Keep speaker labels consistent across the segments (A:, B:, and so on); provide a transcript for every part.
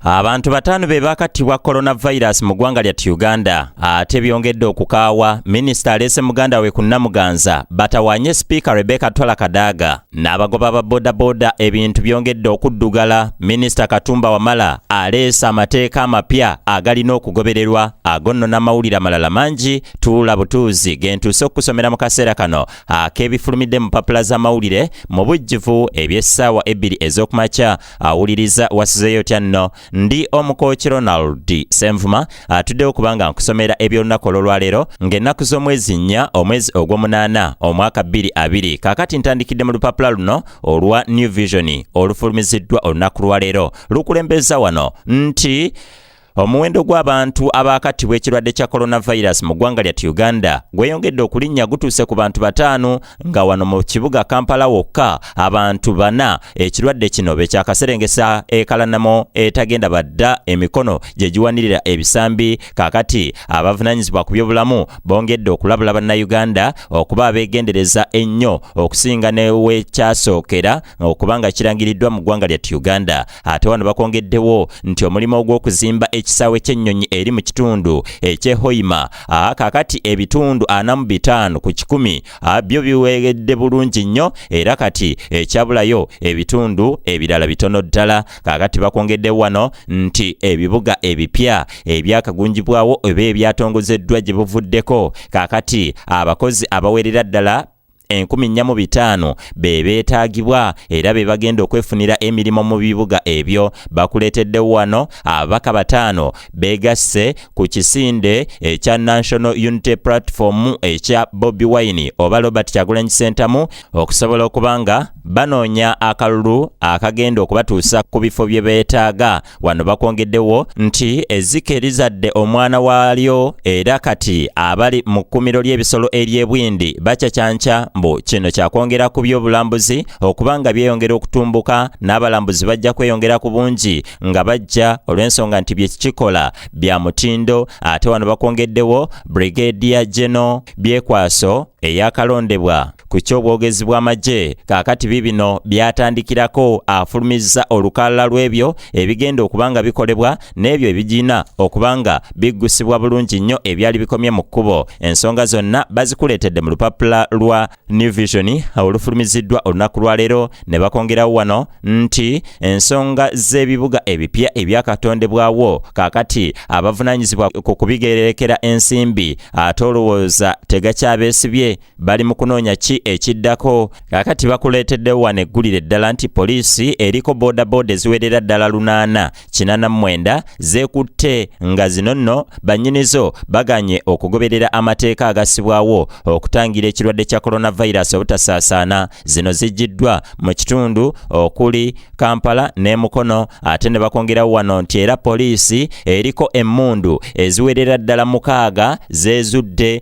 A: Abantu bataano be baakattibwa coronavirus mu ggwanga lya Uganda ate byongedde okukaawa minisita aleese muganda we ku Namuganza batawaanye sipiika Rebecca Twala Kadaga n'abagoba ba bodaboda ebintu byongedde okuddugala minisita Katumba Wamala aleese amateeka amapya agalina okugobererwa ago nno n'amawulire amalala mangi tuula butuuzi gentuuse okukusomera mu kaseera kano ak'ebifulumidde mu papula z'amawulire mu bujjuvu eby'essaawa ebbiri ez'okumakya awuliriza wasizeyo otya nno ndi omukooki ronald senvuma atuddewo kubanga nkusomera eby'olunaku olw'olwaleero ng'ennaku z'omwezi nnya omwezi ogw'omunaana omwaka 22 kakati ntandikidde mu lupapula luno olwa new vision olufulumiziddwa olunaku lwaleero lukulembeza wano nti Omuwendo gw'abantu abaakattibwa ekirwadde kya coronavirus mu ggwanga lyat Uganda gweyongedde okulinnya gutuuse ku bantu bataano nga wano mu kibuga Kampala wokka abantu bana ekirwadde kino bekyakaserengesa ekalanamo etagenda badda emikono gye giwanirira ebisambi kakati abavunanyizibwa ku byobulamu bongedde okulabula bannayuganda okuba abeegendereza ennyo okusinga newekyasookera okubanga kirangiriddwa mu ggwanga lyattu Uganda. Ate wano bakwongeddewo nti omulimu ogw'okuzimba ekisaawe ky'ennyonyi eri mu kitundu eky'e Hoima kakati ebitundu ana mu bitaano ku kikumi byo biweegedde bulungi nnyo era kati ekyabulayo ebitundu ebirala bitono ddala. Kakati bakwongeddewo wano nti ebibuga ebipya ebyakagunjibwawo oba ebyatongozeddwa gye buvuddeko kakati abakozi abawerera ddala enkumi nnya mu bitaano be beetaagibwa era be bagenda okwefunira emirimu mu bibuga ebyo bakuleeteddewo wano ababaka bataano beegasse ku kisinde ekya national unity platform ekya bobi wine oba robert kyagulanyi sentamu okusobola okuba nga banoonya akalulu akagenda okubatuusa ku bifo bye beetaaga Wano bakwongeddewo nti ezzike lizadde omwana waalyo era kati abali mu kkumiro ly'ebisolo ery'ebwindi bacacanca mbu kino kyakwongera ku by'obulambuzi okuba nga byeyongera okutumbuka n'abalambuzi bajja kweyongera ku bungi nga bajja olw'ensonga nti byekikikola bya mutindo ate wano bakwongeddewo Brigadier General Byekwaso eyakalondebwa ku ky'obwogezi bw'amagye kaakati biibino byatandikirako afulumizza olukalala lw'ebyo ebigenda okuba nga bikolebwa n'ebyo ebigina okuba nga biggusibwa bulungi nnyo ebyali bikomye mu kkubo ensonga zonna bazikuleetedde mu lupapula lwa new vision olufulumiziddwa olunaku lwaleero ne bakongerawo wano nti ensonga z'ebibuga ebipya ebyakatondebwawo kaakati abavunaanyizibwa ku kubigererekera ensimbi ate olowooza tegakyabeesibye bali mu kunoonya ki ekiddako kakati bakuleeteddewo wano eggulire eddala nti poliisi eriko boodabooda eziwerera ddala lunaana kinana mwenda zeekutte nga zino nno bannyinizo baganye okugoberera amateeka agasibwawo okutangira ekirwadde kya coronavirus obutasaasaana zino zijjiddwa mu kitundu okuli kampala ne mukono ate ne bakwongerawo wano nti era poliisi eriko emmundu eziwerera ddala mukaaga zeezudde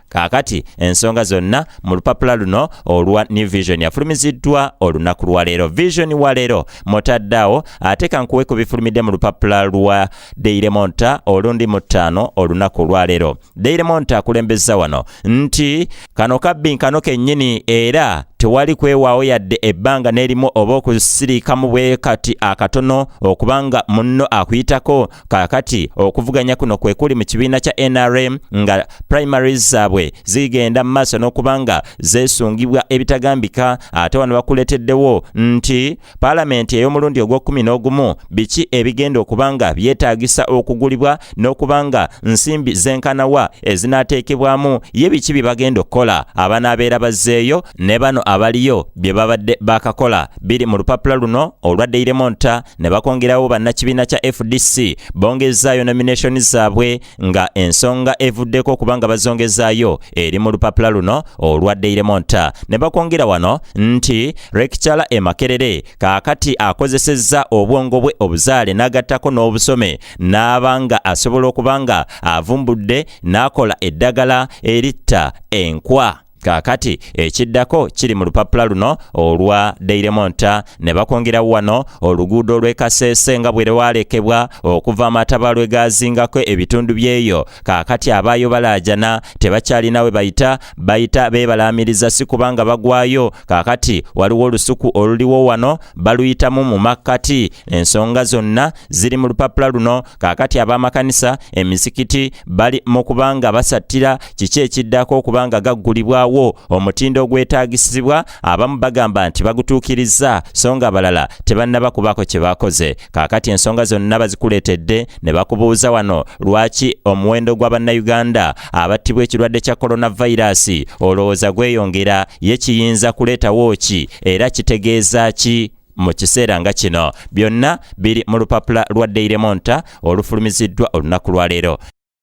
A: kaakati ensonga zonna mu lupapula luno olwa new vision yafulumiziddwa olunaku lwaleero vision waleero mutaddeawo ate kankuwe ku bifulumidde mu lupapula lwa daily monta olundi mu ttaano olunaku olwaleero daily monta akulembeza wano nti kano kabbi nkano kennyini era tewali kwewaawo yadde ebbanga n'erimu oba okusiriikamu bwe kati akatono okubanga munno akuyitako Kaakati okuvuganya kuno kwe kuli mu kibiina kya NRM nga primaries zaabwe zigenda mu maaso n'okuba nga zeesungibwa ebitagambika ate wano bakuleeteddewo nti paalamenti ey'omulundi ogw'okkumi n'ogumu biki ebigenda okuba nga byetaagisa okugulibwa n'okuba nga nsimbi zenkanawa ezinaateekebwamu ye biki bye bagenda okukola abanaabeera bazzeeyo ne bano abaliyo bye babadde baakakola biri mu lupapula luno olwa Daily Monitor ne bakongerawo bannakibiina kya fdc bongezaayo nomination zaabwe nga ensonga evuddeko okuba nga bazongezaayo eri mu lupapula luno olwa daily monta ne bakwongera wano nti rekicara emakerere kaakati akozesezza obwongo bwe obuzaale n'agattako n'obusome n'aba nga asobola okuba nga avumbudde n'akola eddagala eritta enkwa kaakati ekiddako kiri mu lupapula luno olwa deiremonta ne bakwongerawo wano oluguudo lw'ekaseese nga bwe lwalekebwa okuva amataba lwe gaazingako ebitundu by'eyo kaakati abaayo balaajana tebakyalina we bayita bayita beebalaamiriza si kubanga bagwayo kaakati waliwo olusuku oluliwo wano baluyitamu mu makkati ensonga zonna ziri mu lupapula luno Kaakati ab'amakanisa, emizikiti bali mu kubanga basattira kiki ekiddako okubanga gaggulibwawo omutindo ogwetaagisibwa abamu bagamba nti bagutuukirizza so nga abalala tebannaba kubaako kye bakoze. Kaakati ensonga zonna bazikuleetedde ne bakubuuza wano lwaki omuwendo gwa Bannayuganda abattibwa ekirwadde kya kolonavayiraasi olowooza gweyongera ye kiyinza kuleetawo ki era kitegeeza ki? mu kiseera nga kino byonna biri mu lupapula lwa Daily Monitor olufulumiziddwa olunaku lwa leero.